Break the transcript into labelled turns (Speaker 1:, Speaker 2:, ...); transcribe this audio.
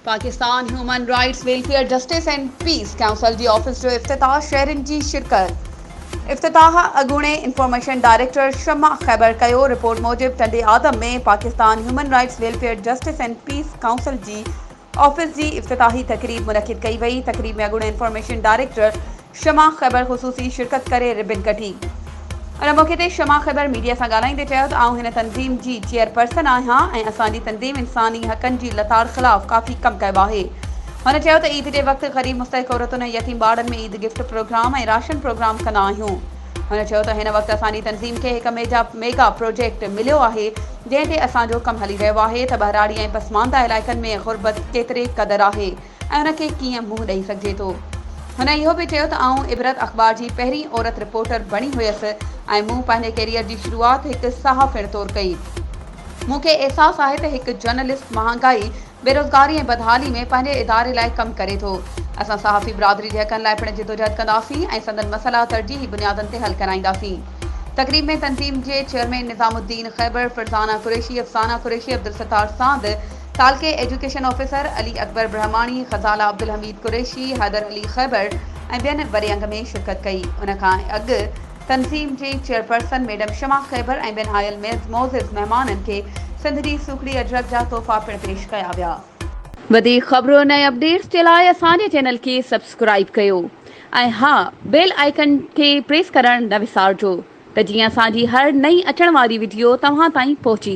Speaker 1: Pakistan human rights welfare justice and peace council جي office جو افتتاح، شهرين جي شرڪت. افتتاح اڳوڻي انفارميشن ڊائريڪٽر شمع خيبر ڪيو، رپورٽ موجب ٽنڊي آدم ۾ Pakistan human rights welfare justice and peace council جي آفيس جي افتتاحي تقريب منعقد ڪئي وئي، تقريب ۾ اڳوڻي انفارميشن ڊائريڪٽر شمع خيبر خصوصي شرڪت ڪري ربن ڪڍي. ان موقعي تي شمع خيبر ميڊيا سان ڳالهائيندي چيو ته آئون هن تنظيم جي چيئرپرسن آهيان ۽ اسان جي تنظيم انساني حقن جي لتاڙ خلاف ڪافي ڪم ڪيو آهي. هن چيو ته عيد جي وقت غريب مستحق عورتن ۽ يتيم ٻارڙن ۾ Eid gift program ۽ ration program ڪندا آهيون. هن چيو ته هن وقت اسان جي تنظيم کي هڪ ميگا پروجيڪٽ مليو آهي جنهن تي اسان جو ڪم هلي رهيو آهي ته ٻهراڙي ۽ پسمانده علائقن ۾ غربت ڪيتري قدر آهي. ۽ ان کي ڪيئن منهن ڏئي سگهجي ٿو. هن اهو به چيو ته آئون عبرت اخبار جي پهرين عورت رپورٽر بڻي هيس ۽ مون پنهنجي ڪيريئر جي شروعات هڪ صحافڻ طور ڪئي. مون کي احساس آهي ته هڪ جرنلسٽ مهانگائي، بيروزگاري ۽ بدحالي ۾ پنهنجي اداري لاء ڪم ڪري ٿو. اسان صحافي برادري جي حقن لاء پڻ جدوجهد ڪنداسين ۽ سندن مسئلا ترجيحي بنيادن تي حل ڪرائينداسين. تقريب ۾ تنظيم جي چيئرمين نظام الدين خيبر، فرزانه قريشي، افسانه قريشي، عبدالستار ساند، تعلقي ايجوڪيشن آفيسر علي اڪبر برهماڻي، خزاله عبدالحميد قريشي، حيدر علي خيبر ۽ ٻين وري انگ ۾ شرڪت ڪئي. ان کان اڳ تنظيم جي چيئرپرسن ميڊم شمع خيبر ۽ ٻين آيل معزز مهمانن کي سنڌ جي سوکڙي اجرڪ جا تحفا پڻ پيش ڪيا ويا. وڌيڪ خبرن ۽ اپڊيٽس جي لاء اسان جي چينل کي سبسڪرائيب ڪيو ۽ ها بيل آئيڪن کي پريس ڪرڻ نه وسارجو ته جيئن اسان جي هر نئين اچڻ واري وڊيو توهان تائين پهچي